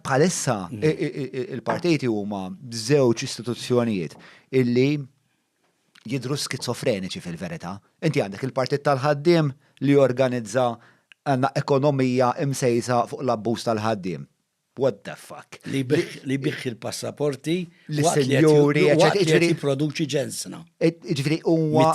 bħalissa il-partiti huma żewġ istituzzjonijiet illi jidru skizofreniċi fil-verità. Inti għandek il-partit tal-ħaddiem li jorganizza għandna ekonomija imsejsa fuq l-abbuż tal-ħaddiem. What the fuck? Li biħ il-passaporti li senjuri li jipproduċi ġensna. Ġifri, huwa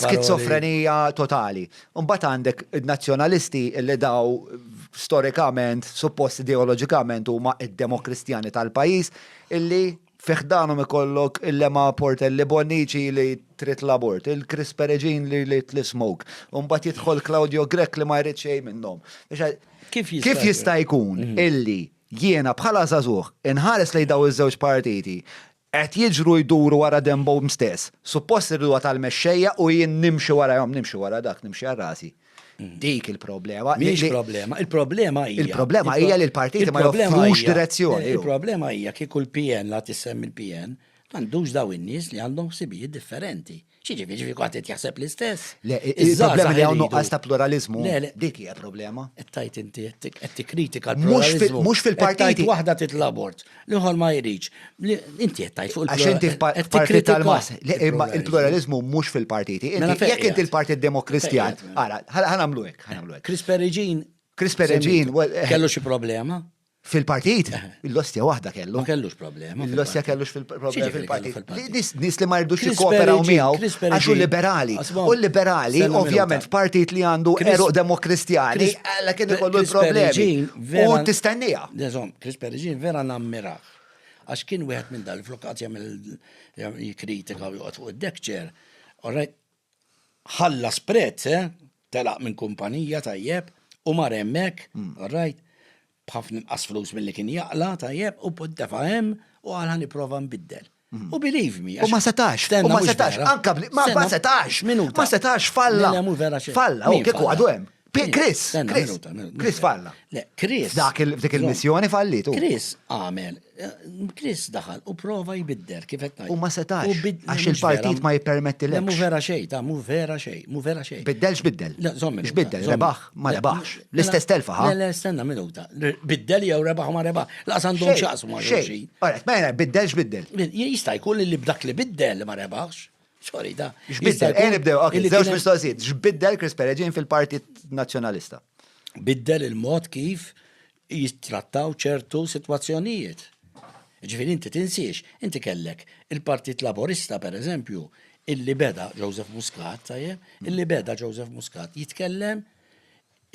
skizofrenija totali. Imbagħad għandek in-Nazzjonalisti li daw storikament, suppost ideoloġikament huma d-Demokristjani tal-pajjiż illi fi ħdanhom ikollok il-Lema Portelli Bonnici li trid l-abort, il-Chris Peregin li jrid l-ismoke, u mbagħad jidħol Claudio Grech li ma jrid xejn minnhom. Kif jista' jkun illi jiena bħala żagħżugħ inħares lejn dawn iż-żewġ partiti, Qed jiġru jduru wara denbhom stess. Suppost irriduha tal-mexxejja u jien nimxi warahom, nimxi wara dak, nimxi għal rasi. Dik il-problema. Mhix problema, il-problema hija. Il-problema hija li l-partiti ma joffrux direzzjoni. Il-problema hija kieku l-PN la tissemmi l-PN, m'għandux daw in-nies li għandhom ħsibijiet differenti. Xieġifi, ġifi għat qed jaħseb l-istess. Le, il-problema li hawn nuqqas ta' pluralizmu. Le, le. Dik hija problema. Qed inti qed tikkritika l-pluralizmu. Mhux fil-partit. Waħda titla' abort, l-ieħor ma jridx. Inti qed tajt fuq il-pluralizmu. Għax inti partit tal-mas. Le, imma il-pluralizmu mhux fil-partiti. Mela jekk inti l-Partit Demokristjan, ara, ħanamlu hekk, ħanamlu hekk. Chris Perigin. Chris Perigin. Eh. Kellu xi problema? Fil-partit, l-ostja waħda kellu. Ma kellux problema. L-ostja kellux fil-problema fil-partit. Nis li ma jirdux jikkooperaw miegħu għax u liberali. U liberali, ovvjament, f'partit li għandu eruq demokristjani, għalla kien ikollu l-problemi. U tistennija. Dezom, Chris Perigin vera nammiraħ. Għax kien wieħed minn dal-flokazja mill-kritika u jgħot fuq id-dekċer. Orrejt, ħallas prezz, eh? Telaq minn kumpanija, tajjeb, u mar hemmhekk, alright, b'ħafna inqas flus milli kien jaqla, tajjeb, u defa' hemm u qal ħaniprova nbiddel. U believe me. U ma setax, u ma setax, anka ma setax, ma setax falla. Falla, u kieku għadu hemm. Chris, Chris, Chris falla. Le, Chris. Dak il-missjoni fallitu. Chris għamel, eh, Chris daħal u prova jbidder kif qed U ma setax. Għax il-partit ma jippermetti l Mu vera xej, ta' mu vera xej, mu vera xej. Biddel x'biddel? Le, zommi. X'biddel? Rebaħ ma rebaħx. L-istess telfa ħa. Le, stenna minuta. Biddel jew rebaħ ma rebaħ. La għandhom xaqsmu ma xejn. Ora, mela biddel x'biddel? Jista' jkun li b'dak li biddel ma rebaħx. Sorry, da. X'biddel, ejn nibdew, ok, żewġ mistoqsijiet. X'biddel Chris Pereġin fil-Partit Nazzjonalista? Biddel il-mod kif jittrattaw ċertu sitwazzjonijiet. Ġifieri inti tinsiex, inti kellek il-Partit Laborista pereżempju, illi beda Joseph Muscat, tajjeb, illi beda Joseph Muscat jitkellem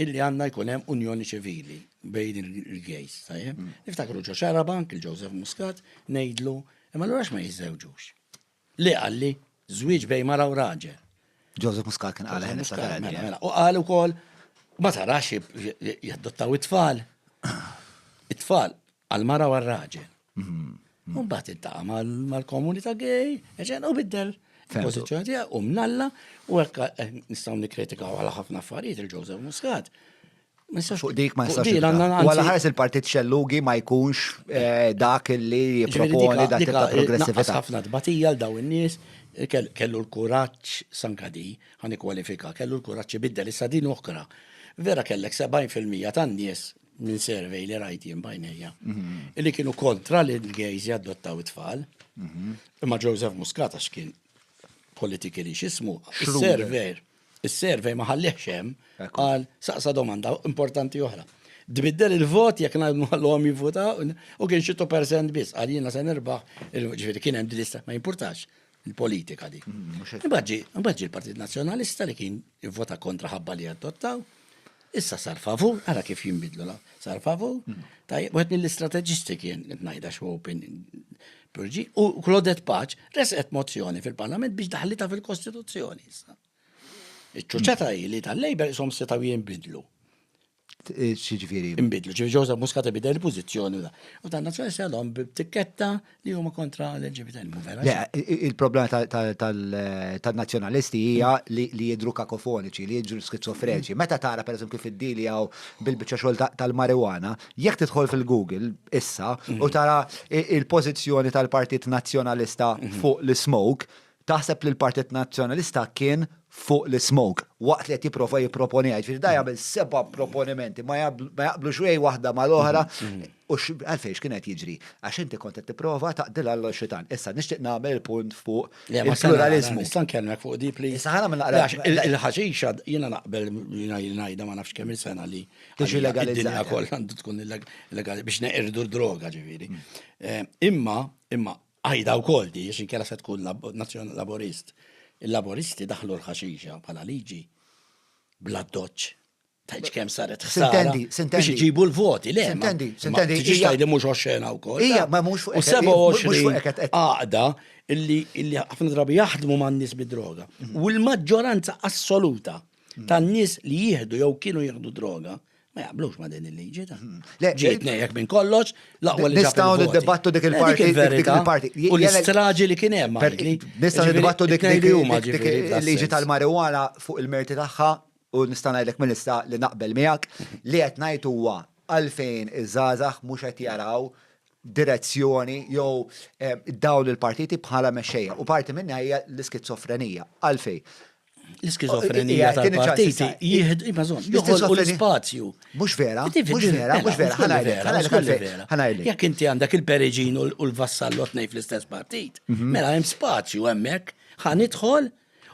illi għandna jkun hemm unjoni ċivili bejn il-gejs, tajjeb. Niftakru ġo xarabank il-Joseph Muscat ngħidlu, imma l-għax ma jiżżewġux. Li qal li żwieġ bejn mara u raġel. Joseph Muscat kien qal ħin ta' Gandhi. Mela, mela. U qal ukoll ma tarax jaddottaw it-tfal. It-tfal għal-mara u għal-raġel. Mhm. Mbagħad intaqa' mal-komunità gay, eġen u biddel il-pożizzjoni tiegħu u mnalla u hekk eh, nistgħu nikkritikaw għal ħafna affarijiet il-Joseph Muscat. Fuq dik ma jistax. Wala ħares il-partit xellugi ma jkunx eh, dak li jiproponi dak ta' progressività. ħafna tbatija l daw in-nies kellu l-kuraġġ sankadi ħan kwalifika, kellu l-kuraġġ ibiddel issa din oħra. Vera kellek 70% tan-nies minn survey li rajt jien bajnejja. Mhm. Li kienu kontra li l-gejz jaddottaw it-tfal. Mhm. Imma Joseph Muscat għax kien politikali xismu, surveyor Is-survey ma ħallihx hemm, qal saqsa domanda importanti oħra. Tbiddel il-vot jekk nagħmluhom jivvutaw u kien xi percent biss qal jiena se nirbaħ, ġifieri kien hemm lista ma jimpurtax il-politika di. Mm, Imbagħad ġi l-Partit Nazzjonalista li kien ivvota kontra ħabba li adottaw. Issa sar favur, ara kif jinbidlu la. Sar favur, tajjeb, wieħed mill-istrateġisti kien qed ngħidha x'open Purġi u Claudette Paċ resqet mozzjoni fil-Parlament biex daħlita fil-Kostituzzjoni issa. Iċ-ċuċċata hi li tal-Labor isom setgħu jinbidlu. Xiġifieri. Inbidlu, ġifieri Joseph Muscat bidel il-pożizzjoni u da. U dan nazzjonali se għadhom b'tikketta li huma kontra l-LGBTizmu, vera? Le, il-problema tal-nazjonalisti hija li jidru kakofoniċi, li jidru skizofreċi. Mm. Meta tara per eżempju fid-dili għaw bil-bicċa xogħol tal-marijuana, jekk tidħol fil-Google issa mm. u tara il-pożizzjoni tal-Partit Nazzjonalista mm. fuq l-smoke, Taħseb li l-Partit Nazzjonalista kien fuq l-ismoke waqt li qed jipprova jipproponiha. Jiġifieri dan jagħmel seba' proponimenti ma jaqblu x'hej waħda mal-oħra u għalfejn x'kien qed jiġri. Għax inti kont qed tipprova taqdilha għal xitan. Issa nixtieq nagħmel il-punt fuq il-pluraliżmu. Nista' nkellmek fuq di please? Issa ħana nagħmel naqra. Il-ħaxixa jiena naqbel jiena ngħidha ma nafx kemm il-sena li tiġi legalizzata kollha għandu tkun illegali biex neqirdu d-droga ġifieri. Imma imma Qajda wkoll di għax inkella se tkun nazzjon Laburist. Il-Laburisti daħlu l-ħaxixa bħala liġi bla doċċ. Tajċ kem saret ħsara. Biex iġibu l-voti, le. Sintendi, sintendi. Tiġi tajdi mux oċċena u koll. Ija, ma mux fuq. U 27 għaqda illi ħafna drabi jaħdmu ma' nis bid-droga. Mhm. U l-maġġoranza assoluta mhm. tan nis li jihdu jew kienu jihdu droga, Ma jaqblux ma din il-liġi ta' ġiet nejjek minn kollox, laqwa li Nistaw niddibattu dik il-parti, dik il-parti. U l-istraġi li kien hemm. Nistaw niddibattu dik il-liġi tal-marijuana fuq il-merti tagħha u nista' ngħidlek minn issa li naqbel miegħek li qed ngħid huwa għalfejn iż-żgħażagħ mhux qed jaraw direzzjoni jew eh, dawn il-partiti bħala mexxejja. U parti minnha hija l-iskizofrenija. Għalfejn? L-iskizofrenija tal-partit jihd, imma zon, joħolqu l-spazju. Mux vera, mux vera, mux vera, ħanajlek, ħanajlek, ħanajlek. Jek inti għandak il-periġin u l-vassallot nej fl-istess partit, mhm. mela jem spazju għemmek, ħanidħol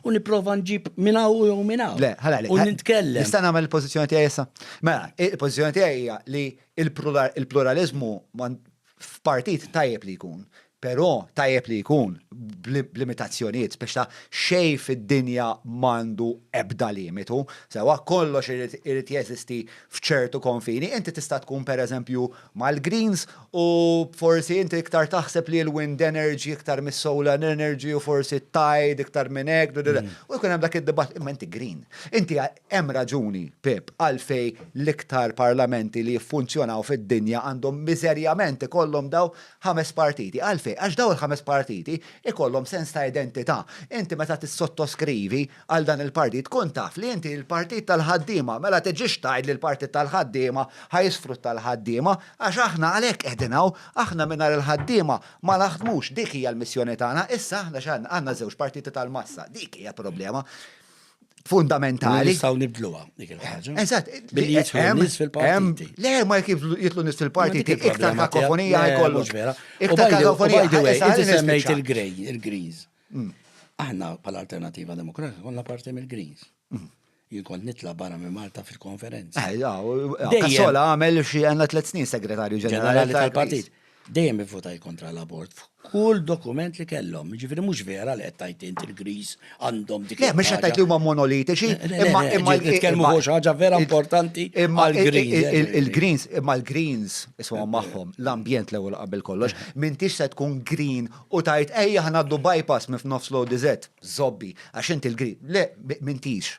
u niprofa nġib minna u jew minna. Le, ħalali. U nitkellem. Nista' nagħmel il-pożizzjoni tiegħi issa. Mela, il-pożizzjoni tiegħi hija li il-pluralizmu f'partit tajjeb li jkun, però tajjeb li jkun b'limitazzjonijiet biex ta' xejn fid-dinja m'għandu ebda limitu, sewwa, kollox irid jeżisti f'ċertu konfini, inti tista' tkun pereżempju mal-Greens u forsi inti iktar taħseb li l-wind energy iktar mis-solar energy u forsi t-tide iktar minn hekk, u jkun hemm dak id-dibattitu, imma inti Green. Inti Hemm raġuni, Pip, għalfejn l-iktar parlamenti li jiffunzjonaw fid-dinja għandhom miżerjament ikollhom dawn ħames partiti. Għalfejn? Għax dawn il-ħames partiti jkollhom sens ta' identità. Inti meta tissottoskrivi għal dan il-partit kun taf li inti l-partit tal-ħaddiema, mela tiġix tgħid li l-partit tal-ħaddiema ħa jisfrutta l-ħaddiema, għax aħna għalhekk qegħdin hawn. Aħna mingħajr il-ħaddiema ma naħdmux, dik hija l-missjoni tagħna. Issa aħna x'għandna? Għandna żewġ partiti tal-massa. Dik hija l-problema. fundamentali. Nistaw nibdluwa dik il-ħaġa. Eżatt. Billi jitlu nis fil-partiti. Le, ma jek jitlu nis fil-partiti, iktar kakofonija jkollu. Iktar kakofonija. Inti semmejt il-grej, il-griz. Mm. Aħna pal-Alternativa Demokratika konna parti mill-griz. Mm. Jikon nitla barra minn Malta fil-konferenza. Ejja, eh, eh, Kassola għamel xie għanna tlet snin segretarju ġenerali tal-partit. Dejjem ivvutajt kontra l-abort f'kull dokument li kellhom. Jiġifieri mhux vera li qed tgħid int il-Griż għandhom dik. Le, mhux qed tgħid li huma monolitiċi, imma imma nitkellmu fuq xi ħaġa vera importanti għall-Greens. Il-Greens, imma l-Greens isma' magħhom l-ambjent l-ewwel qabel kollox, m'intix se tkun green u tgħid ejja ngħaddu bypass minn f'nofs l-ODZ, żobbi, għax inti l-green. Le, m'intix.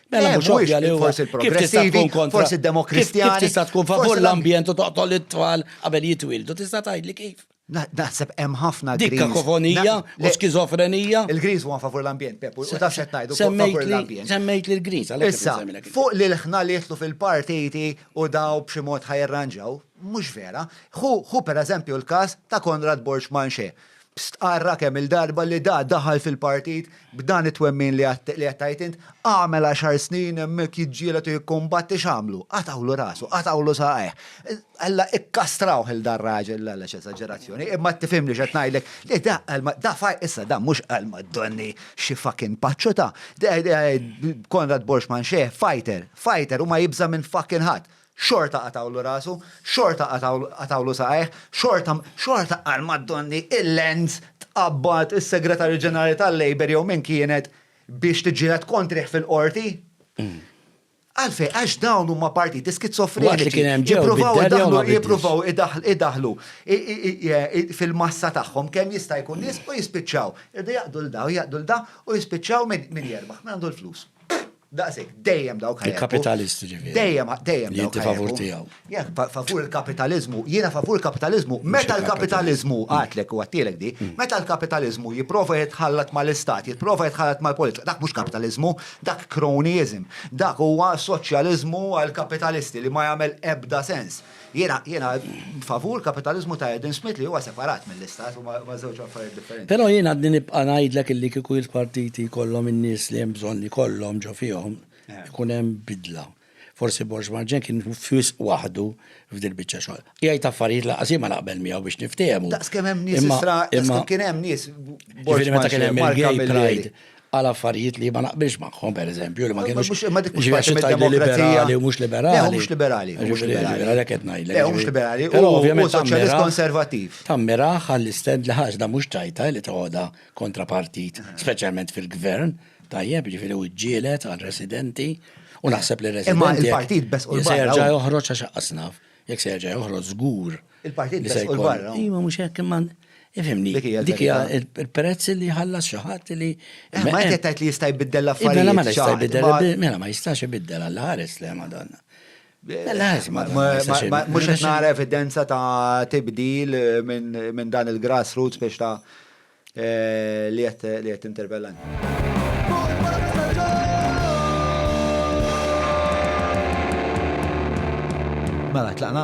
Mela mhux ovvja li forsi l-progressivi, forsi d-demokristjani. Kif tista' tkun favur l-ambjent u toqtol it-tfal qabel jitwildu, tista' tgħidli kif? Naħseb hemm ħafna Dik kakofonija u skizofrenija. Il-Greens huwa favur l-ambjent, Pep, u taf xed ngħidu favur l-ambjent. Semmejt li l-Greens għalhekk. Issa, fuq li l-ħna li jitlu fil-partiti u daw b'xi mod ħajrranġaw, mhux vera. Hu pereżempju l-każ ta' Konrad Borg Manxe. Stqarra kemm-il darba li da daħal fil-partit b'dan it-twemmin li qed tgħid int, għamel għaxar snin hemmhekk jiġġieled u jikkumbatti x'għamlu? Qatgħulu rasu, qatgħulu saqajh. Alla ikkastrawh il dan raġel għala x'esaġerazzjoni, imma qed tifhimni x'qed ngħidlek li da qal da faj issa da mhux qal ma donni xi fucking paċċuta. Konrad Borxman xeħ fighter, fighter u ma jibża' minn fucking ħadd. Xorta qatgħulu rasu, xorta qatgħulu saqajh, xorta, xorta qal Maddonni il-Lens tqabbad is-Segretarju Ġenerali tal-Labour jew min kienet biex tiġġieled kontrih fil-Qorti? Għalfejn? Għax dawn huma partiti skizofreniċi. Jippruvaw idaħlu fil-massa tagħhom kemm jista' jkun nies u jispiċċaw. Irdu jaqdu l-daw, jaqdu l-daw u jispiċċaw min jerbaħ, min għandu l-flus. Daqsek, dejjem dawk ħajja. Il-kapitalisti ġifieri. Dejjem, dejjem. Jinti favur tiegħu. Jek, favur il-kapitalizmu, jiena favur il-kapitalizmu, meta l-kapitalizmu, għatlek u għattilek di, mm. meta l-kapitalizmu jiprofa jitħallat mal-istat, jiprofa jitħallat mal-politika, dak mhux kapitalizmu, dak cronyism, dak huwa soċjalizmu għal-kapitalisti li ma jagħmel ebda sens. Jiena, jiena favur kapitalizmu ta' Adam Smith li huwa separat mill-istat u ma' żewġ affarijiet differenti. Però jien għadni nibqa' ngħidlek illi kieku il-partiti jkollhom in-nies li hemm bżonn li jkollhom ġo fihom, eh. ikun hemm bidla. Forsi Borġ Marġen kien fisq waħdu f'dil biċċa xogħol. Jgħid affarijiet laqas ma naqbel miegħu biex niftehmu. Daqs kemm hemm nies istra, imma kien hemm nies. Borġ meta kien hemm il-gay pride. għal affarijiet li ma naqbilx magħhom pereżempju li ma kienux. Imma dik mhux parti mill-demokrazija. Li mhux liberali. Le mhux liberali. Mhux liberali. Għalhekk qed ngħidlek. Le mhux liberali. Però ovvjament soċjalist konservattiv. Tammira għall-istend li ħaġda mhux tajta li toħodha kontra partit, speċjalment fil-gvern, tajjeb ġifieri u ġġielet għal residenti u naħseb li residenti. Imma il-partit bes u l-gvern. Serġa' joħroġ għax qasnaf. Jekk se jerġa' joħroġ żgur. Il-partit li se jkun barra. Imma mhux hekk imma Ifimni, dik hija il-prezz li ħallas xi ħadd li. Eh, ma qed tgħid li jista' jbiddel mela l-affarijiet. Mela ma jista' jbiddel, mela ma jistax ibiddel għal ħares le Madonna. Mux qed nara evidenza ta' tibdil eh, minn dan il-grassroots biex ta' Li qed tinterpellani. Mela, tlaqna?